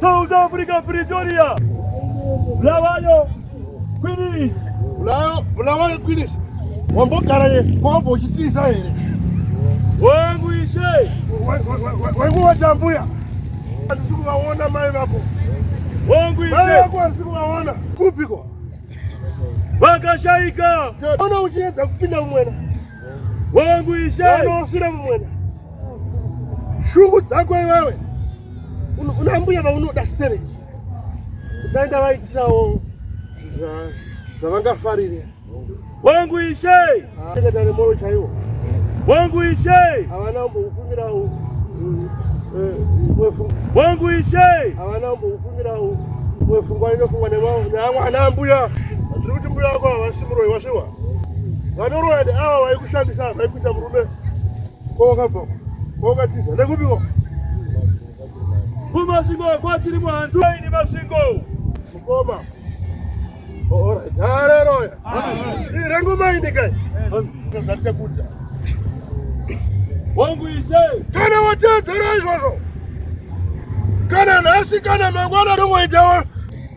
South Africa Pretoria. Bulawayo Queens. Bulawayo Bulawayo Queens. Wambogara ye kwambo uchitiza here? Wangu ishe. Wangu watambuya. Andisi kuvaona mai vako. Wangu ishe. Mai vako andisi kuvaona. Kupiko? Vakashaika. Ona uchiedza kupinda umwena. wangu ishaanofira mumwena shungu dzako iwewe una mbuya vaunoda stereki ndaenda vaitirawo zvavangafarire wangu ishe akatane moro chaiwo wangu ishe havana umboufumira eh, wangu ishe havana umboufumira wefungwa inofungwa neamwe ana ambuya ndiri kuti mbuya wako havasi muroyi wasviwa vanoroya neava vaikushandisa vaikuita murume kwawakabva kwawakatiza nekupiwa kumasvingo kwachiri mwanzi waini masvingo mukoma orit hareroya irengumaindikai zvaticakudza wangu ise kana watedzera izvozvo kana nhasi kana mangwana ndongoitawo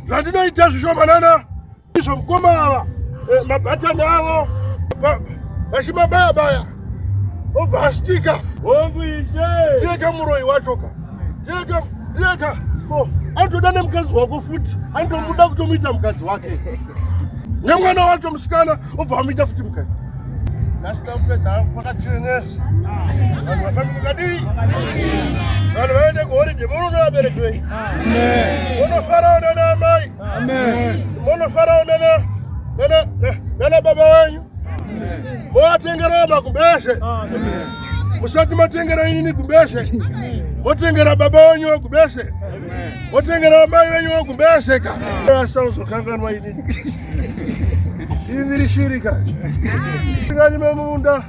zvandinoita zvishomanana Izvo mkoma ava eh, mabatani avo vachimabaya baya obva astika hongu ishe ndiyeka muroyi wachoka ndiyeka ndiyeka anotoda nemukadzi wako futi anotomuda kutomuita mukadzi wake nemwana wacho musikana obva amuita futi mukadzi asitaupedhaakakachenesa vanhu vafambi kadii vanhu vaende kuhoridhe vononovaberekwei vonofarawo nana amai Munofarawo nana baba wenyu movatengerawo magumbeze, musati matengera inini gumbeze, motengera baba wenyu wagumbeze, motengera amai wenyu wagumbeze ka asazokanganwa inini indirishirika ingani memunda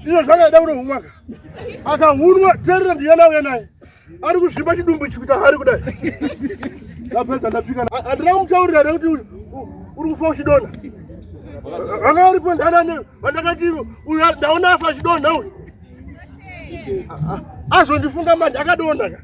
Ndizvo zvakaita kuno humwaka. Akahunwa terera ndiyana uya naye. Ari kuzvimba chidumbu ichi kuita hari kudai. Ndapedza ndapfika. Andina kumutaurira here kuti uri kufa uchidona. Vanga uripo ndanane vandakati ndaona afa achidona uyu. Azondifunga manje akadonaka.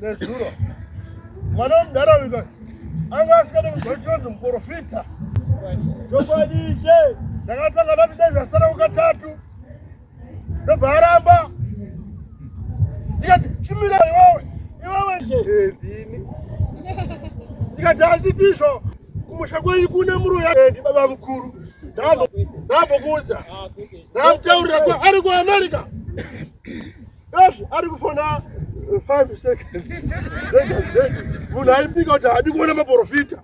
nezuro mwana wemudhara uyu anga asikade kuzwa chinonzi muprofita chokwadi ishe ndakatanga ndati dai zvasara kukatatu ndobva aramba ndikati chimira iwewe iwewe ishe eh, ndikati handidizvo kumusha kwenyu kune muruya eh, ndi baba mukuru ndambokuudza ah, ndamutaurira ari kuamerica Yes, ari kufona 5 seconds. Zega zega. Munhu aipika kuti haadi kuona maprofita.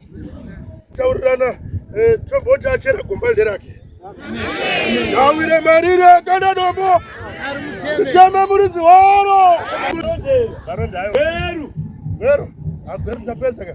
Taurirana eh, tomboti achera gomba nderake. Ngawire marire kana dombo. Shama muridzi waro. Veru. Veru. Agweru tapedza ka.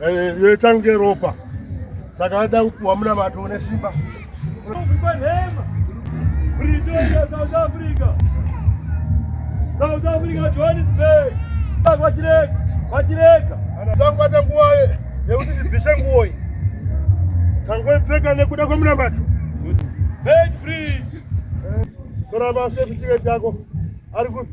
Eh, yoita kunge ropa saka ada kupuwa muna mato une simba South Africa South Africa Johannesburg vachireka vachireka tangbata nguva yekuti tibvise nguvo iyi tangoipfeka nekuda kwemuna mato tora masefutiket yako ari kupi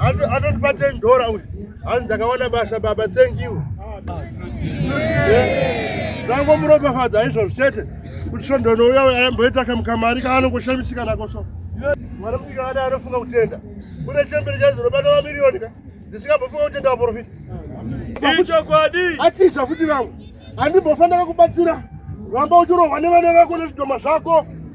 Atotpa 10 dollar uyu. Hanzi ndakawana basa baba thank you. Ndango muropa fadza izvo zvete. Kuti svondo no uya ayamboita kamkamari kaanongoshamisika nako so. Mwana kufika ana anofunga kutenda. Kune chembere chaziro bana wa milioni ka. Ndisingambofunga kutenda wa profit. Icho kwadi. Atiza futi vangu. Andimbofanira kubatsira. Ramba uchirohwa nevana vako nezvidoma zvako.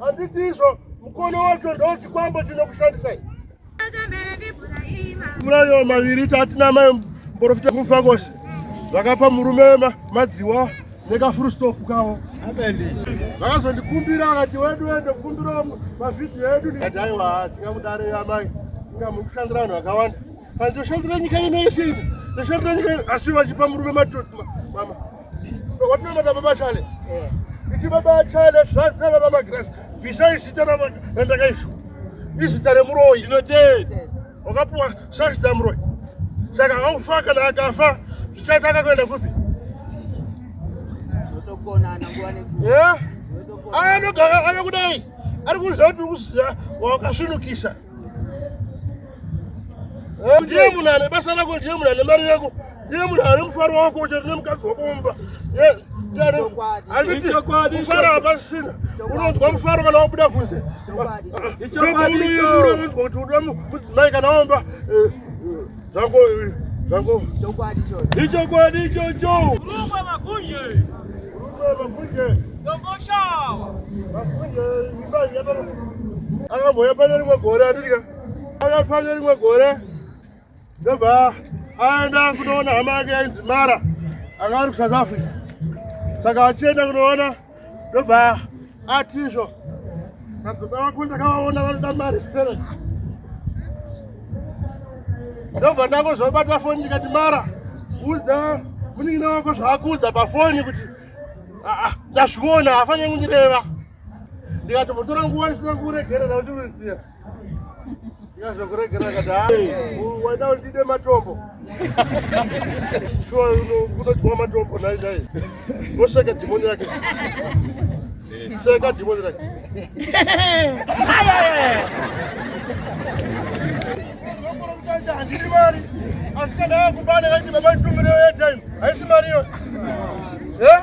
Handitizvo mukono wacho ndochikwambo chinokushandisai. Murayo maviri tatina mai mporofita kufa kose vakapa murume madziwa nekafurustopu kavo vakazondikumbira vakati wedu wende kukumbirawo mavhidhiyo edu aiwa haasi kamudare yamai inga muri kushandira vanhu vakawanda Ndoshandira nyika ino yese ino. Ndoshandira nyika ino asi vachipa murume matoti mama. Watinona na baba Chale. Eh. Iti baba Chale zvanzi na baba Magrasi. Bvisai zita randakaiswa. Izita remuroyi. Tinotenda. Wakapuwa sazita muroyi. Saka haufa kana akafa zvichaita akakuenda kupi? Tinotokonana nguva nekuti. Eh? Anogara ave kudai. Ari kuziva kuti ukuziva wakasvinukisa. Eh, ndiye munhu ane basa rako ndiye munhu ane mari yako ndiye munhu ane mufaro wako uchari nemukadzi wako mumba kufara hapasisina unonzwa mufaro kana wabuda kunze unoyemura unonzwa kuti unoda mudzimai kana womba eh, Zvako zvako. Chokwadi chocho. Ichokwadi chocho. Rumba makunje. Rumba makunje. Domboshawa. Makunje ibani yabara. Akamboya pane rimwe gore atirika. Aka pane rimwe gore. Ndobva aenda kunoona hama yake yainzi Mara. Akari kuSouth Africa. Saka achienda kunoona ndobva ati izvo madzibaba vako ndakavaona vanoda mari sere ndobva ndako zvobata foni ndikati mara udza munin'ina wako zvaakuudza pafoni kuti aa ndazviona haafanire kundireva ndikati votora nguva ndisina kuregerera kuti uziva Yazokuregera kada. Waida ulide matombo. Shuwa unochukua matombo nai nai. Woseka dhimoni yake. Seka dhimoni yake. Handiri mari. Asi kana akubana kaiti baba nditumire airtime. Haisi mari iyo. Eh?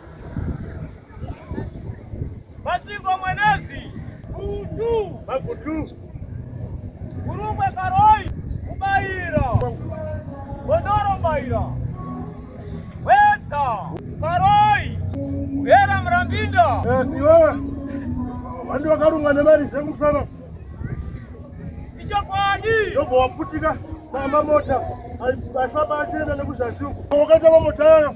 Masvingo Mwenezi Gutu Magutu Gurumwe Karoi Mubaira Gondoro Mbaira Wedza Karoi Muhera Murambinda eh, Iwewe vandu vakarunga nemari dzemusana ichokwadi ndobva waputika namba mota aifamba achienda nekuzasi uko wakaita mamota ayo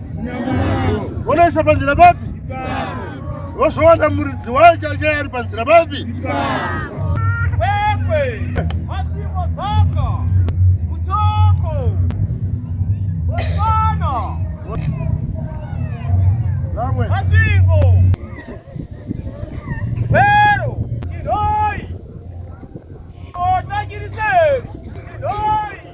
Unoisa panzira papi? Wozoona muridzi wayo chake ari panzira papi? Oi!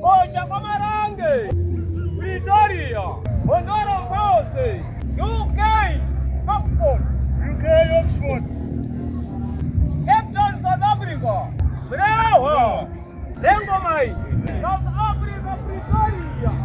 Bosha Kwamarange, Pretoria, Hondoro Mose, UK, Oxford, UK, Oxford, Cape Town, South Africa, Bravo, Lengomai, South Africa, Pretoria.